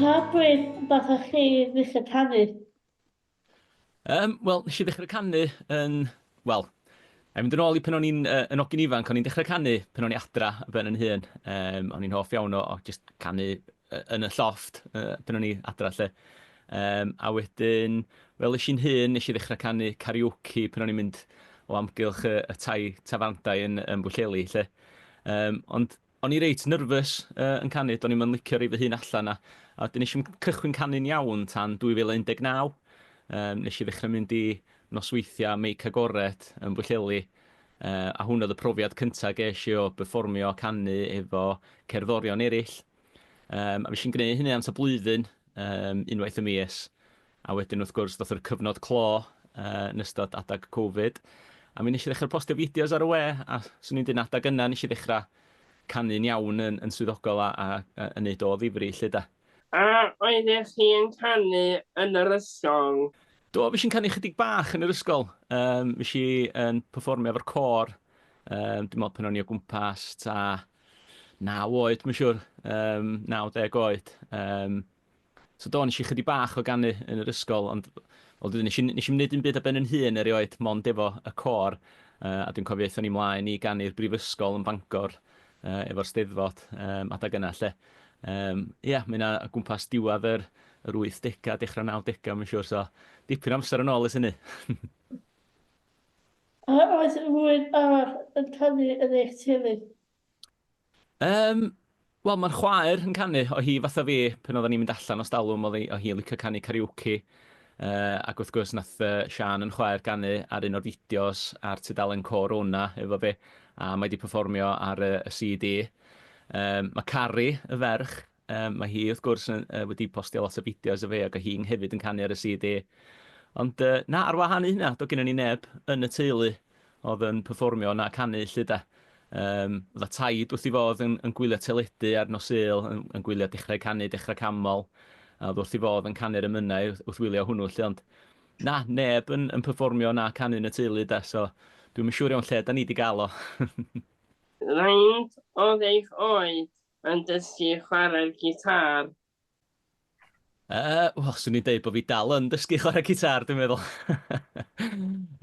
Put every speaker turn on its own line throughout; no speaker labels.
Pa bryd fatha chi ddechrau canu? Um,
Wel, nes i ddechrau canu yn... Wel, a mynd yn ôl i pan o'n i'n uh, yn ogyn ifanc, o'n i'n dechrau canu pan o'n i adra ben yn hun. Um, o'n i'n hoff iawn o, o just canu yn y llofft pan o'n i adra 'lly. Yym a wedyn fel es i'n hŷn nes i ddechra canu karaoke pan o'n i'n mynd o amgylch y y tai tafarndai yn yn Bwllheli 'lly. Yym ond o'n i reit nervous yy yn canu do'n i'm yn licio roi fy hun allan a a wedyn nes i'm cychwyn canu'n iawn tan 2019. Yym nes i ddechra mynd i nosweithia Meic Agored yn Bwllheli Yy a hwn oedd y profiad cynta gesh i o berfformio a canu efo cerddorion erill. Yym a fuesh i'n gneu' hynny am t'a blwyddyn yym unwaith y mis a wedyn wrth gwrs doth yr cyfnod clo yy yn ystod adag covid a mi nesh i ddechra postio fideos ar y we a swn i'n deud yn adag yna nesh i ddechra canu'n iawn yn yn swyddogol a a yy yn neud o o ddifri 'lly 'de. A
oeddech chi yn canu yn yr ysgol? Do, fues i'n canu
chydig bach yn yr ysgol. Um, fues i yn performio efo'r cor. Um, dwi'n meddwl pan o'n i o gwmpas ta 9 oed, mae'n siŵr. Um, 90 oed. Um, So do, nes i chydig bach o ganu yn yr ysgol, ond ond nes i, nes i wneud un byd a ben yn hun erioed, mond efo y cor. Uh, a dwi'n cofio eithon ni mlaen i ganu'r brifysgol yn Bangor. yy efo'r Steddfod yym adeg yna 'lly. Yym ia ma' 'na o gwmpas diwadd yr yr wythdega dechra'r nawdega ma'n siŵr so dipyn o amser yn ôl ers hynny.
A oes rhywun arall yn canu yn eich teulu? Yym
wel ma'r chwaer yn canu o' hi fatha fi pan oddan ni'n mynd allan os dalwm o'dd 'i o' hi yn licio canu karaoke Yy ac wrth gwrs nath yy Siân yn chwaer ganu ar un o'r fideos ar tudalen Côr Ona efo fi a mae 'di perfformio ar y y CD. Yym ma' Cari, y ferch, yym ma' hi wrth gwrs yn yy wedi postio lot o fideos o fi ag o hi'n hefyd yn canu ar y CD. Ond yy na, ar wahân i hynna, do' gynnon ni neb yn y teulu oedd yn perfformio 'na a canu 'lly 'de. Yym, oedd y taid wrth 'i fodd yn yn gwylio teledu ar nos Sul, yn yn gwylio Dechrau Canu, Dechrau Canmol, a oedd wrth 'i fodd yn canu'r emynau wrth wrth wylio hwnnw 'lly, ond na, neb yn yn perfformio 'na a canu yn y teulu 'de, so dwi'm yn siŵr iawn lle 'dan ni 'di gael o.
Faint oedd eich oed yn dysgu chwarae'r gitâr? Yy,
wel, swn i'n deud bod fi dal yn dysgu chwarae gitar, dwi'n meddwl.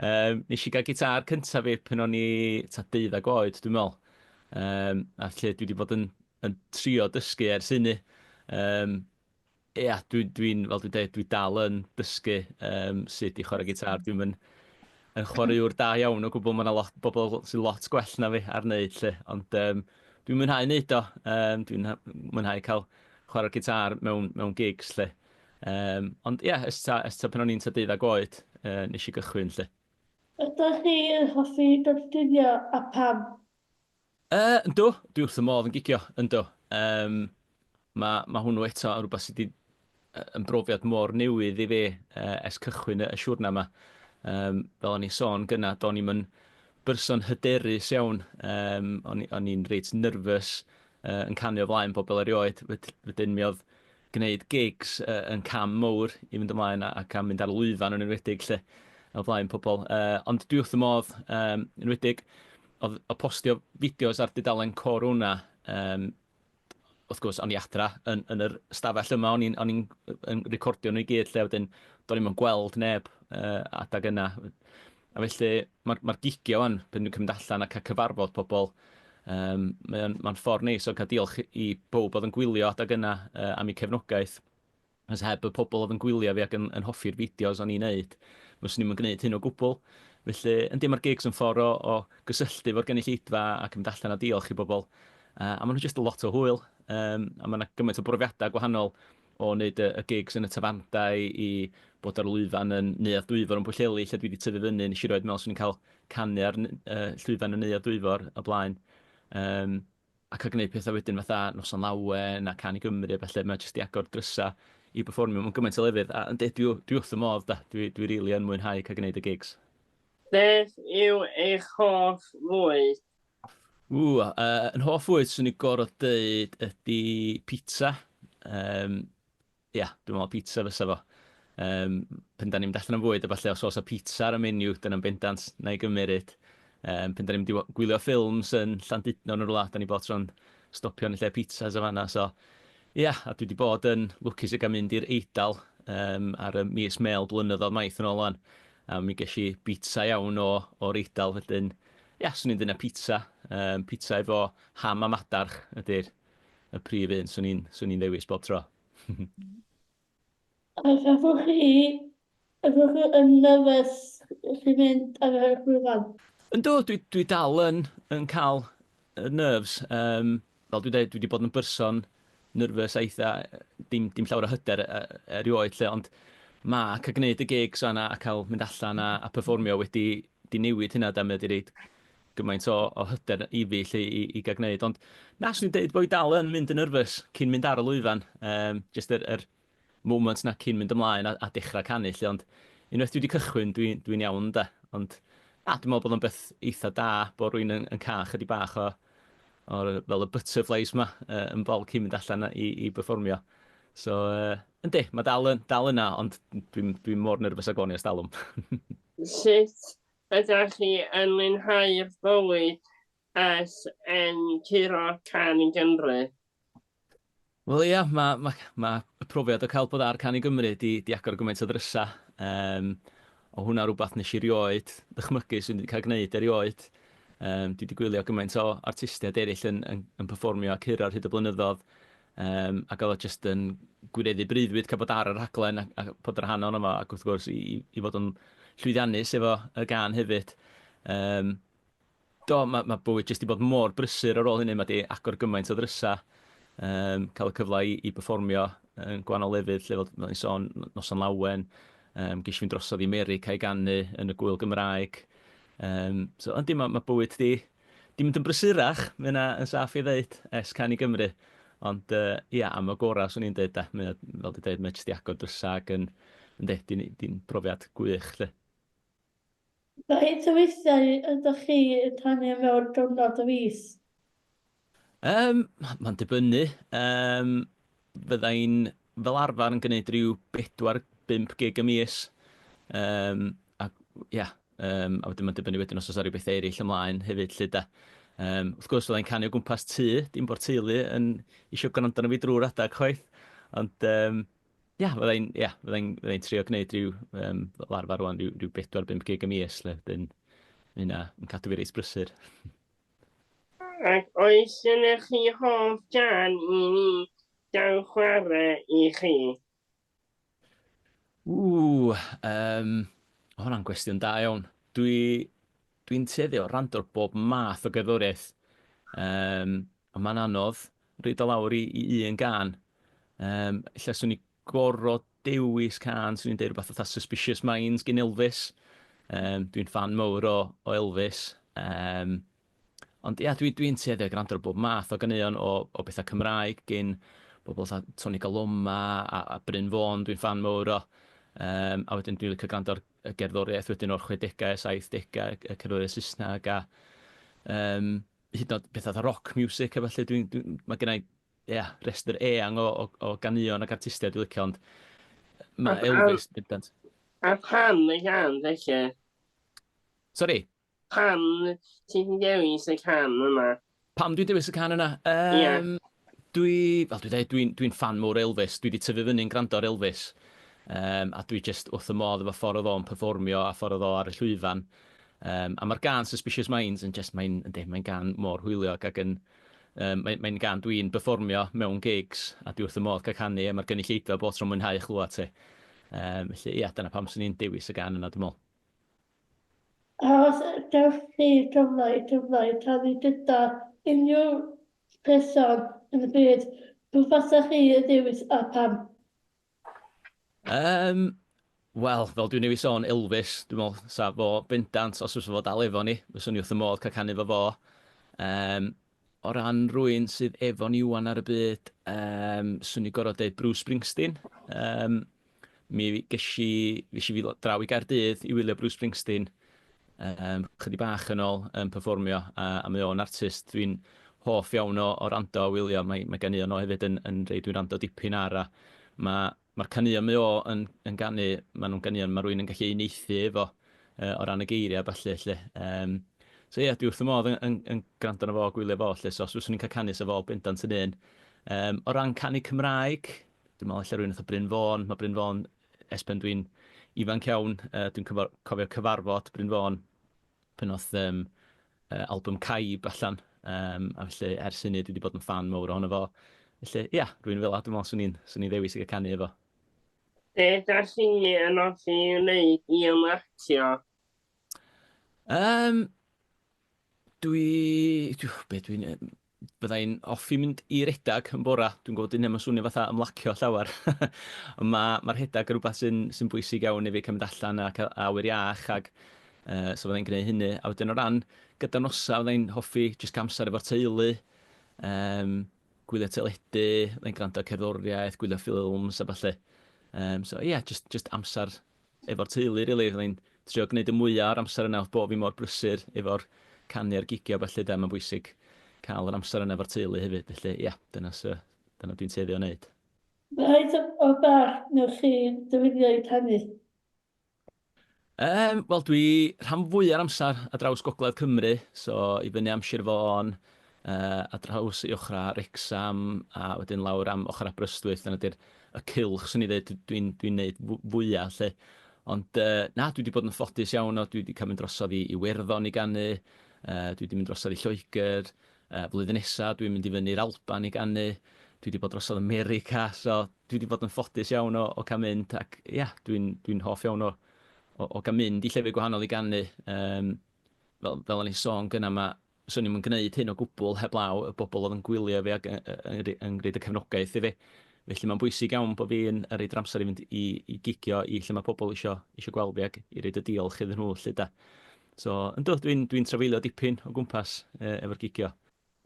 um, nes i gael gitar cyntaf fi pan o'n i ta deuddag oed, dwi'n meddwl. Um, a lle dwi wedi bod yn, yn trio dysgu ers hynny. Um, ia, dwi'n, dwi fel dwi'n dweud, dwi dal yn dysgu um, sut i chwarae gitar. Dwi'n mynd yn chwaraewr da iawn o gwbl. Mae yna lot, bobl sy'n lot gwell na fi ar wneud lle. Ond um, dwi'n mwynhau wneud o. Um, dwi'n mwynhau cael chwarae'r gitâr mewn, mewn gigs 'lly. Um, ond ie, yeah, ys ta, ys ta pan o'n i'n ta deuddag oed, uh, nes i gychwyn 'lly. Ydych chi
yn hoffi dylunio a pam? Uh,
ynddo, dwi wrth y modd yn gigio, ynddo. Um, mae ma hwnnw eto yn rhywbeth sydd wedi yn brofiad mor newydd i fi uh, es cychwyn y, y siwrna yma. Um, fel o'n i'n sôn gyna, do'n i'n mynd berson hyderus iawn. Um, o'n i'n reit nerfus uh, yn canu o flaen bobl erioed, wedyn mi oedd gwneud gigs uh, yn cam mowr i fynd ymlaen ac am mynd ar lwyfan yn enwedig lle o flaen pobl. Uh, ond dwi wrth y modd um, yn enwedig o, o postio fideos ar dudalen Corona um, wrth gwrs, o'n i adra yn, yn yr stafell yma, o'n i'n recordio nhw i gyd lle wedyn, do'n i'n gweld neb uh, adag yna. A felly, mae'r, mae'r gigiau wan, pan dwi'n cymryd allan a cael cyfarfod pobl, um, mae'n ma ffordd neis o cael diolch i bob oedd yn gwylio adeg yna uh, am eu cefnogaeth. Os heb y pobl oedd yn gwylio fi ac yn, yn hoffi'r fideos o'n i'n neud, fyswn ni'n gwneud hyn o gwbl. Felly, yn dim mae'r gigs yn ffordd o, o gysylltu fo'r gynulleidfa a cymryd allan a diolch i bobl. Uh, a maen nhw'n just lot o hwyl, um, a mae yna gymaint o brofiadau gwahanol o wneud y gigs yn y tafarndai i bod ar lwyfan yn Neuadd Dwyfor yn Pwllheli lle dwi 'di tyfu fyny, nes i erioed meddwl 'swn i'n cael canu ar llwyfan y Neuadd Dwyfor o blaen. Yym a cael gwneud pethau wedyn fatha Noson Lawen a Cân i Gymru a ballu, mae jyst 'di agor drysau i berfformio mewn gymaint o lefydd a yndi dwi dwi wrth fy modd 'da, dwi dwi rili yn mwynhau cael gwneud y gigs. Beth
yw eich hoff fwyd? Ww, uh,
yn hoff fwyd sy'n ei gorau dweud ydy pizza. Um, ia, yeah, dwi'n meddwl pizza fysa fo. Um, pen da ni'n mynd allan am fwyd a falle os oes o pizza ar y menu, dyna'n bendant na i gymeryd. Um, pen da ni'n mynd gwylio ffilms yn Llandudno yn rhywle, da ni bod tro'n stopio yn lle pizzas o fanna. So, ia, yeah, a dwi wedi bod yn lwcus i gael mynd i'r Eidal um, ar y mis mel blynyddoedd maith yn ôl o'n. A mi ges i bita iawn o'r Eidal, felly'n Ia, 'swn i'n dynnu pizza. Yym, pizza efo ham a madarch ydy'r y prif un 'swn i'n 'swn i'n ddewis bob tro.
A gafwch chi gafwch chi yn nerfus wrth i fynd ar yr llwyfan? Yndw, dwi dwi
dal yn yn ca'l y nerves, yym, Fel dwi'n deud, dwi 'di bod yn berson nervous a eitha', dim dim llawer o hyder e- e- erioed 'lly, ond ma' ca'l gneud y gigs fan 'na a ca'l mynd allan a a perfformio wedi 'di newid hynna 'de, mae o 'di roid gymaint o o hyder i fi 'lly i i ga'l gneud, ond na, 'swn i'n deud bo' fi dal yn mynd yn nervous cyn mynd ar y lwyfan, yym, jyst yr yr moment 'na cyn mynd ymlaen a a dechra canu 'lly ond unwaith dwi 'di cychwyn dwi dwi'n iawn ynde? Ond na dwi me'wl bod o'n beth eitha da bo' rywun yn yn ca'l chydig bach o o'r yy fel y butterflies 'ma yy yn bol cyn mynd allan a i i berfformio. So yy yndi ma' dal yn dal yna ond dwi'm dwi mor nyrfys ag o'n i ers dalwm. Sut
ydach chi yn mwynhau'r bywyd
Beth yn curo Can i Gymru? Wel ia, ma' ma' ma' y profiad o cael bod ar Can i Gymru 'di 'di agor gymaint o ddrysa'. Yym, o' hwnna rwbath nesh i rioed ddychmygu swn i 'di ca'l gneud erioed. Yym, dwi 'di gwylio gymaint o artistiaid eryll yn yn yn perfformio a curo ar hyd y blynyddodd, yym, ag o'dd o jyst yn gwireddu breuddwyd ca'l bod ar y rhaglen a a bod yn rhan ohono fo ac wrth gwrs i i i fod yn llwyddiannus efo y gân hefyd. Yym, Do, mae mae bywyd jyst 'di bod mor brysur ar ôl hynny, mae 'di agor gymaint o ddrysau, yym, cael y cyfle i i berfformio yn gwahanol lefydd 'lly, fel fel o'n i'n sôn, n- Noson Lawen, yym, ges i fynd drosodd i 'Merica i ganu yn y Gŵyl Gymraeg. Yym, so yndi, mae mae bywyd 'di 'di mynd yn brysurach, mae hynna yn saff ei ddeud, ers canu i Gymru. Ond yy, ia, am y gorau 'swn i'n deud de, mae o, fel 'di deud, mae jyst 'di agor drysau ac yn, yndi, 'di 'di hi'n brofiad gwych 'lly.
Faint o weithiau ydych chi yn rhannu mewn diwrnod y fis? Yym,
mae'n dibynnu. Yym, fydda i'n fel arfer yn gwneud rhyw bedwar, bump gig y mis. Yym, a ia, um, a wedyn mae'n dibynnu wedyn os oes ar bethau eraill ymlaen hefyd lle da. Um, wrth gwrs, fydda i'n canu o gwmpas tŷ, dim bod teulu yn eisiau gwrando arno fi drwy'r adeg chwaith. Ond um, Ia, fydda i'n, ia, fydda i'n, fydda i'n trio gwneud rhyw, um, fel arfer rwan, rhyw, rhyw 4-5 gig y mis, lle, dyn, mae hynna yn cadw fi reis brysur.
Ac oes yna chi hoff gan i ni gael chwarae i chi? Ww, um,
o hwnna'n gwestiwn da iawn. Dwi, dwi'n tueddu o rando bob math o gerddoriaeth. Um, Ond mae'n anodd roid o lawr i i un gân. Yym, ella 'swn i gor'o' dewis cân, 'swn i'n deud rwbath fatha Suspicious Minds gin Elvis. Yym, dwi'n ffan mowr o o Elvis. Yym, ond ia, dwi dwi'n tueddu i grando ar bob math o ganeuon o o betha Cymraeg gin bobl fatha Toni Kaloma a a Bryn Fôn dwi'n ffan mowr o. Yym, a wedyn dwi'n licio grando ar y gerddoriaeth wedyn o'r chwedegau, saithdegau, y cerddoriaeth Saesneg a yym hyd yn oed pethau fatha rock music a felly, dwi'n, dwi'n, mae gen i, ia, rhestr eang o, o, o ganeuon ac artistiaid dwi'n licio, ond mae a, Elvis yn bendant. A pam
y gan, felly?
Sori?
Pam ti'n dewis y
can yma? Pam dwi'n dewis y can yna? Um, yeah. Dwi, fel dwi ddeud, dwi'n dwi'n ffan mowr o Elvis, dwi 'di tyfu fyny'n grando ar Elvis, yym a dwi jyst wrth fy modd efo ffor o'dd o'n perfformio a ffor o'dd o ar y llwyfan, yym a ma'r gân 'Suspicious Minds' yn jyst mae'n yndi mae'n gân mor hwyliog ac yn yym mae mae'n gân dwi'n perfformio mewn gigs a dwi wrth fy modd ca'l canu e, ma'r gynulleidfa bob tro'n mwynhau chlwad ti. Yym felly ia dyna pam swn i'n dewis y gân yna dwi me'wl.
Os gewch chi gyfle i gyfleu canu gyda unrhyw person yn y byd, pw fasa chi y dewis a pam? Yym,
wel, fel dwi'n newid sôn, Elvis, dwi'n meddwl, sa fo bendant, os fysa fo dal efo ni, fyswn ni wrth y modd cael canu fo fo. Um, o ran rwy'n sydd efo ni wan ar y byd, um, swn i gorau dweud Bruce Springsteen. Um, Mi ges i, ges i fydd draw i Gaerdydd i wylio Bruce Springsteen um, chydig bach yn ôl yn performio, a, a mae o'n artist dwi'n hoff iawn o, o rando a wylio. Mae, mae gan un o hefyd yn, yn rei dwi'n rando dipyn ar, a mae, mae'r caneuon mae o yn, yn ganu, mae nhw'n ganeuon mae rwy'n yn gallu uneithu efo uh, o ran y geiriau a falle. Lle. Um, so ie, yeah, dwi wrth y modd yn, yn, yn gwrando na fo, gwylio fo, lle, so os fyswn i'n cael canu sa fo bendant yn un. Um, o ran canu Cymraeg, dwi'n meddwl ella rhywun fatha Bryn Fôn, mae Bryn Fôn, es pen dwi'n ifanc iawn, uh, dwi'n cofio cyfarfod Bryn Fôn pen oedd um, uh, album Caib allan, um, a felly ers hynny dwi wedi bod yn fan mawr ohono fo. Felly, ia, yeah, rwy'n fel a, dwi'n meddwl swn i'n swn i ddewis i gael canu efo. Be
da chi yn offi wneud i ymlacio? Um, dwi,
dwi, be dwi'n, Bydda i'n hoffi mynd i redag yn bora. Dwi'n gwybod dyw hynna ddim yn swnio fatha ymlacio llawer. Ond ma' ma' rhedag yn rhywbeth sy'n sy'n bwysig iawn i fi, cael mynd allan a cael awyr iach ac yy so fydda i'n gwneud hynny. A wedyn o ran gyda'r noson, fydda i'n hoffi jyst cael amser efo'r teulu, yym gwylio teledu, fydda i'n gwrando ar cerddoriaeth, gwylio ffilms a ballu. Yym so ie, jyst jyst amser efo'r teulu rili, o'n i'n trio gneud y mwya o'r amser yna, o'dd bo' fi mor brysur efo'r canu a'r gigio a ballu de, ma'n bwysig ca'l yr amser yna efo'r teulu hefyd felly ia, dyna sy- dyna dwi'n tueddu o neud. Faint
o bach newch chi dyweddio i canu? Yym,
wel dwi rhan fwya'r amsar ar draws gogledd Cymru, so i fyny am Sir Fôn, ar draws ei ochrau Wrecsam a wedyn lawr am ochr Aberystwyth, dyna di'r y cylch swn i'n dweud dwi dwi'n dwi'n wneud fw- fwya 'lly. Ond yy na dwi 'di bod yn ffodus iawn o dwi 'di cael mynd drosodd i i Werddon i ganu, yy dwi 'di mynd drosodd i Lloegr, yy flwyddyn nesa dwi'n mynd i fyny'r Alban i ganu, dwi 'di bod drosodd America, so dwi 'di bod yn ffodus iawn o o cael mynd ac ia dwi'n dwi'n hoff iawn o o o gael mynd i llefydd gwahanol i ganu, yym fel fel o'n i'n sôn gynna' ma' 'swn i'm yn gwneud hyn o gwbl heblaw y bobl oedd yn gwylio fi ac yn gwneud y cefnogaeth i fi. Felly mae'n bwysig iawn bod fi'n rhoid yr amser i fynd i i gigio i lle mae pobl isio isio gweld fi ac i roid y diolch iddyn nhw 'lly de. So, yndw, dwi'n dwi'n trafeilio dipyn o gwmpas efo'r gigio.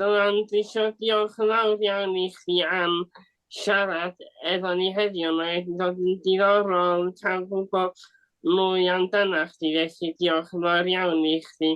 Dylan, dwi
isio diolch yn fawr iawn i chdi am siarad efo ni heddiw, mae wedi bod yn diddorol cael gwybod mwy amdanach chdi, felly diolch yn fawr iawn i chdi